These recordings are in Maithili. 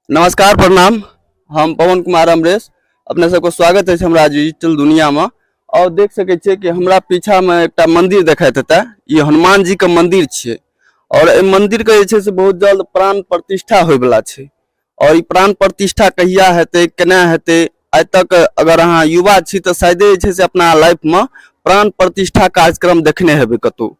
नमस्कार प्रणाम हम पवन कुमार अमरेश अपने सबके स्वागत अछि हमरा डिजिटल दुनियामे आओर देख सकै छियै कि हमरा पीछामे एकटा मन्दिर देखाइत हेतै ई हनुमान जीके मन्दिर छियै आओर एहि मन्दिरके जे छै से बहुत जल्द प्राण प्रतिष्ठा होयवला छै आओर ई प्राण प्रतिष्ठा कहिया हेतै केना हेतै आइ तक अगर अहाँ युवा छी तऽ शायदे जे छै से अपना लाइफमे प्राण प्रतिष्ठा कार्यक्रम देखने हेबै कतहु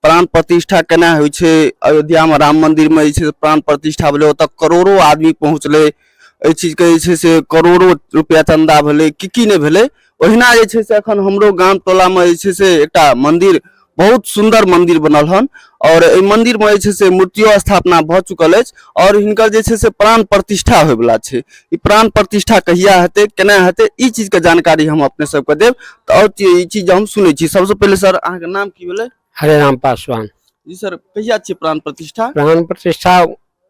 प्राण प्रतिष्ठा केना होइ छै अयोध्यामे राम मन्दिरमे जे छै से प्राण प्रतिष्ठा भेलै ओतऽ करोड़ो आदमी पहुँचलै एहि चीजके जे छै से करोड़ो रुपैआ चन्दा भेलै कि की नहि भेलै ओहिना जे छै से एखन हमरो गाम टोलामे जे छै से एकटा मन्दिर बहुत सुन्दर मन्दिर बनल हन आओर एहि मन्दिरमे जे छै से मूर्तियो स्थापना भऽ चुकल अछि आओर हिनकर जे छै से प्राण प्रतिष्ठा होयवला छै ई प्राण प्रतिष्ठा कहिया हेतै केना हेतै ई चीजके जानकारी हम अपने सबके देब तऽ आओर चीज- ई चीज हम सुनै छी सबसँ पहिले सर अहाँके नाम की भेलै हरे राम पासवान जी सर कहिया छियै प्राण प्रतिष्ठा प्राण प्रतिष्ठा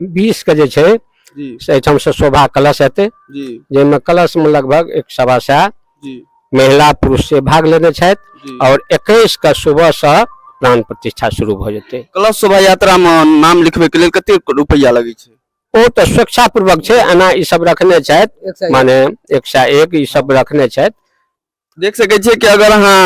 बीस के जे छै जी से एहिठाम से शोभा कलश हेतै जी जाहिमे कलश मे लगभग एक सवा सए जी महिला पुरुष से भाग लेने छथि जी और एकैस के सुबह से प्राण प्रतिष्ठा शुरू भऽ जेतै कलश शोभा यात्रामे नाम लिखबैके लेल कते रुपैआ लगै छै ओ तऽ स्वेच्छापूर्वक छै एना ई सब रखने छथि एक सए माने एक सए एक ई सब रखने छथि देख सकै छियै कि अगर अहाँ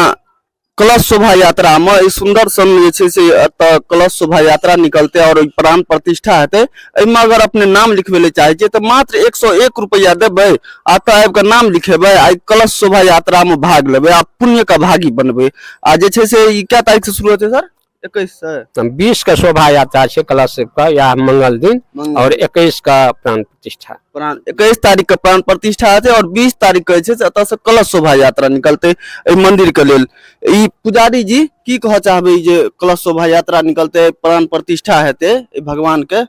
कलश शोभा यात्रा मे ई सुंदर सन जे छै से एतऽ कलश शोभा यात्रा निकलते और ई प्राण प्रतिष्ठा हेतै एहिमे अगर अपने नाम लिखबै ले चाहै छियै तऽ मात्र एक सौ एक रुपैआ देबै आ तऽ आबि कऽ नाम लिखेबै आ ई कलश शोभा यात्रा मे भाग लेबै आ पुण्य का भागी बनबै आ जे छै से ई कए तारीख से शुरू हेतै सर एकैस से बीस के शोभा यात्रा छै कलश के या मंगल दिन मंगल। और इक्कीस का प्राण प्रतिष्ठा प्राण इक्कीस तारीख के प्राण प्रतिष्ठा हेतै और बीस तारीख के जे छै से एतऽ से कलश शोभा यात्रा निकलतै एहि मंदिर के लेल ई पुजारी जी की कहऽ चाहबै ई जे कलश शोभा यात्रा निकलतै प्राण प्रतिष्ठा हेतै एहि भगवान के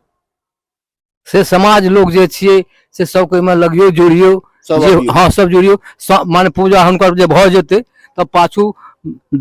से समाज लोग जे छियै से सबके ओहिमे लगियो जोड़ियो सब जे अबियौ। हँ सब जोड़ियो स- माने पूजा हुनकर जे भऽ जेतै तऽ पाछू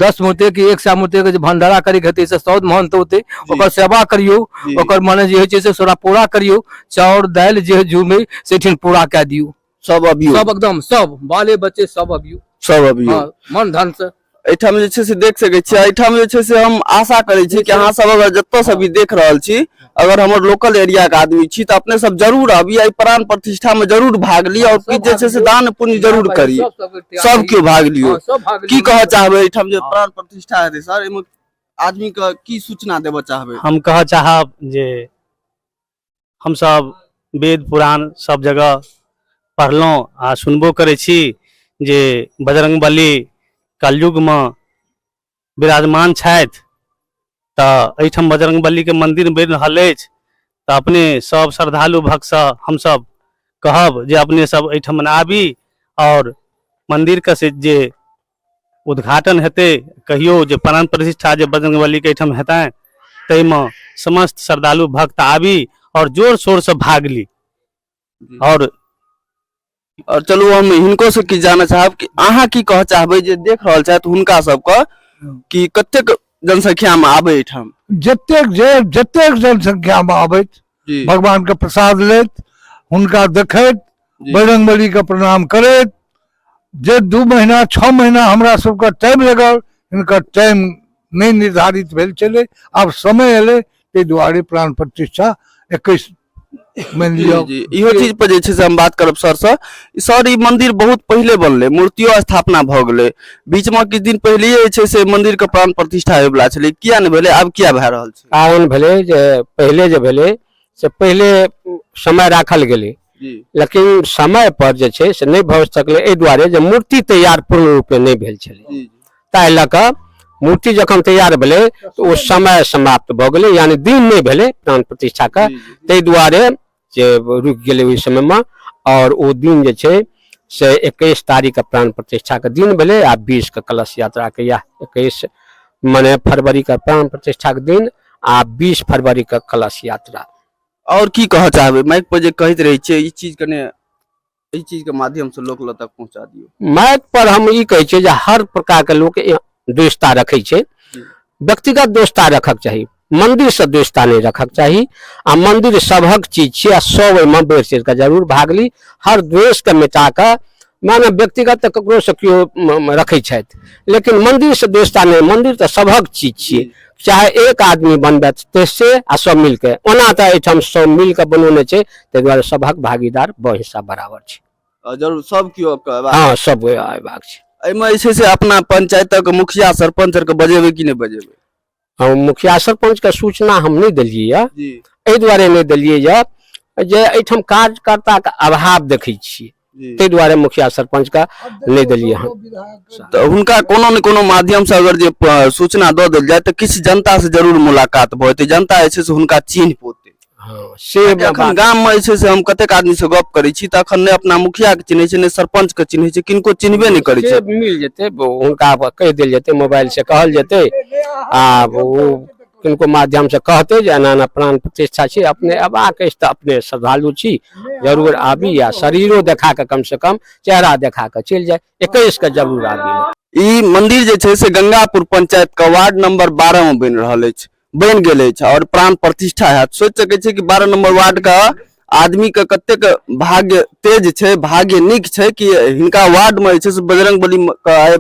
दस मूर्ति के एक सए मूर्ति के जे भंडारा करे के हेतै से सौद महंत होतै ओकर सेवा करियौ जी। ओकर माने जे होइ छै से सोरा पूरा करियौ चाउर दालि जे जुमे से ठिन पूरा कए दियौ सब अबियो सब एकदम सब बाले बच्चे सब अबियो सब अबियो हाँ, मन धन से एठाम जे छै से देख सके छी एठाम जे छै से हम आशा करे छी कि अहाँ सब अगर जत्तो से भी देख रहल छी अगर हमर लोकल एरिया के आदमी छी तऽ अपने सब जरूर अबी एहि प्राण प्रतिष्ठा में जरूर भाग ली और किछु जे छै से दान पुण्य जरूर करी सब केओ भाग लियो हाँ, सब भाग की लियो। कहऽ चाहबै एहिठाम जे प्राण प्रतिष्ठा हेतै सर एहिमे आदमी के की सूचना देबऽ चाहबै हम कहऽ चाहब जे हमसभ वेद पुराण सभ जगह पढ़लहुँ आ सुनबो करै छी जे बजरंग बली कलयुगमे विराजमान छथि तऽ एहिठाम बजरंग बलीके मन्दिर बनि रहल अछि तऽ अपने सभ श्रद्धालु भक्तसँ हमसभ कहब जे अपने सभ एहिठाम आबी आओर मन्दिरके से जे उद्घाटन हेतै कहियो जे प्राण प्रतिष्ठा जे बजरंग बली के एहिठाम हेतनि ताहिमे समस्त श्रद्धालु भक्त आबी और जोर शोर से भाग ली और और चलू हम हिनको से किछु जानऽ चाहब कि अहाँ की कहऽ चाहबै जे देख रहल छथि हुनका सबके कि कतेक जनसंख्या मे आबै एहिठाम जतेक जे जतेक जनसंख्यामे अबैत जी भगवान के प्रसाद लेत हुनका देखैत जी। बजरंग बली के प्रणाम करैत जे दू महीना छः महीना हमरा सबके टाइम लगल हिनकर टाइम नहि निर्धारित भेल छलै आब समय एलै ताहि दुआरे प्राण प्रतिष्ठा एकैस मानि जी लिअ जी इहो चीज पर जे छै से हम बात करब सर से सर ई मंदिर बहुत पहिले बनलै मूर्तियो स्थापना भऽ गेलै बीच में किछु दिन पहिले जे छै से मंदिर के प्राण प्रतिष्ठा होयवला छलै किया नहि भेलै आब किया भए रहल छै कारण भेलै जे पहिले जे भेलै से पहिले समय राखल गेलै जी लेकिन समय पर जे छै से नहि भऽ सकलै एहि दुआरे जे मूर्ति तैयार पूर्ण रूपे नहि भेल छलै जी ताहि लऽ कऽ मूर्ति जखन तैयार भेलै तऽ ओ समय समाप्त भऽ गेलै यानि दिन नहि भेलै प्राण प्रतिष्ठाके जी, जी। ताहि दुआरे जे रुकि गेलै ओहि समयमे आओर ओ दिन जे छै से एकैस तारीखके प्राण प्रतिष्ठाके दिन भेलै आ बीसके कलश यात्राके इएह एकैस मने फरवरीके प्राण प्रतिष्ठाके दिन आ बीस फरवरीके कलश यात्रा आओर की कहऽ चाहबै माइक पर जे कहैत रहै छियै ई चीज कने एहि चीज के माध्यम से लोक लग तक पहुंचा दियो माइक पर हम ई कहै छियै जे हर प्रकार के लोक ए- दोस्ता रखै छै जी। व्यक्तिगत दोस्ता रखक चाही मंदिर से दोस्ता नहि रखक चाही आ मंदिर सभक चीज छियै आ सब ओहिमे बढ़ि चढ़ि कऽ जरूर भाग ली हर द्वेष के मिटा कऽ माने व्यक्तिगत तऽ ककरो से केओ म- म- रखै छथि लेकिन मंदिर से दोस्ता नहि मंदिर तऽ सभक चीज छियै चाहे एक आदमी बनबैत ते से आ सब मिलके ओना तऽ एहिठाम सब मिलके बनौने छै ताहि दुआरे सभक भागीदार ब हिस्सा बराबर छै अ, जरूर सब केओ के हेबाक हँ सब अयबाक छै एहिमे जे छै से अपना पंचायतक मुखिया सरपंच आरके बजेबै कि नहि बजेबै हम मुखिया सरपंच के सूचना हम नहि देलियै यऽ जी एहि दुआरे नहि देलियै यऽ जे एहिठाम कार्यकर्ताके अभाव देखै छियै जी ताहि दुआरे मुखिया सरपंचके नहि देलियै हन तऽ हुनका कोनो ने कोनो माध्यमसँ अगर जे प- सूचना दऽ देल जाय तऽ किछु जनतासँ जरूर मुलाकात भऽ जेतै जनता जे छै से हुनका चिन्ह पौतै हँ से कियाकि एखन बात- गाममे जे छै से हम कतेक आदमीसँ गप करै छी तऽ एखन नहि अपना मुखियाके चिन्है छै नहि सरपंचके चिन्है छै किनको चिन्हबे नहि करै से छै मिल जेतै ब- हुनका पर कहि देल जेतै मोबाइल से कहल जेतै आ ओ किनको माध्यम से कहते जे एना एना प्राण प्रतिष्ठा छै अपने अबाक अछि तऽ अपने श्रद्धालु छी जरूर आबी या शरीरो देखा कऽ कम से कम चेहरा देखा कऽ चलि जाय एकैस के जरूर आबी ई मंदिर जे छै से गंगापुर पंचायत के वार्ड नंबर बारह में बनि रहल अछि बनि गेल अछि और प्राण प्रतिष्ठा हैत सोचि सकै छी कि बारह नंबर वार्ड के आदमीके कतेक भाग्य तेज छै भाग्य नीक छै कि हिनका वार्डमे जे छै से बजरंग बली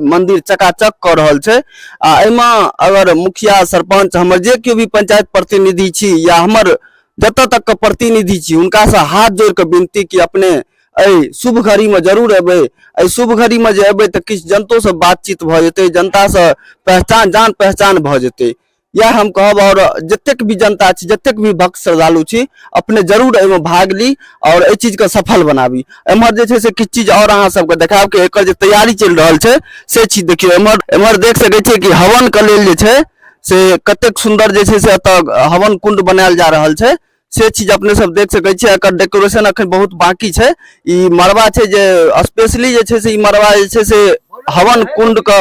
मन्दिर चकाचक कऽ रहल छै आ एहिमे अगर मुखिया सरपंच हमर जे केओ भी पंचायत प्रतिनिधि छी या हमर जतऽ तक के प्रतिनिधि छी हुनकासँ हाथ जोड़ि कऽ विनती कि अपने एहि शुभ घड़ीमे जरूर एबै एहि शुभ घड़ीमे जे एबै तऽ किछु जनतोसँ बातचीत भऽ जेतै जनतासँ पहचान जान पहचान भऽ जेतै यह हम कहब और जतेक भी जनता छी जतेक भी भक्त श्रद्धालु छी अपने जरूर एहिमे भाग ली और एहि चीज के सफल बनाबी एम्हर जे छै से किछु चीज और अहाँ सबके देखाब कि एकर जे तैयारी चलि रहल छै से चीज देखियौ एम्हर एम्हर देख सकै छियै कि हवन के लेल जे छै से कतेक सुंदर जे छै से एतऽ हवन कुंड बनायल जा रहल छै से चीज अपने सब देख सकै छियै एकर डेकोरेशन अखन बहुत बाकी छै ई मड़वा छै जे स्पेशली जे छै से ई मड़वा जे छै से हवन कुंड के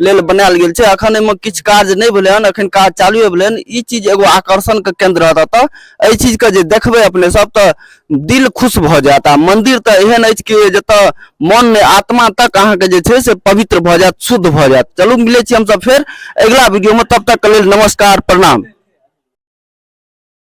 लेल बनायल गेल छै अखन एहिमे किछु कार्य नहि भेलै हन अखन काज चालू भेलै हन ई चीज एगो आकर्षण के केंद्र रहत एतऽ एहि चीज के जे देखबै अपने सब तऽ दिल खुश भऽ जायत आ मंदिर तऽ एहन अछि कि जतऽ मन ने आत्मा तक अहाँके जे छै से पवित्र भऽ जायत शुद्ध भऽ जायत चलू मिलै छी हमसब फेर अगिला वीडियो में तब तक के लेल नमस्कार प्रणाम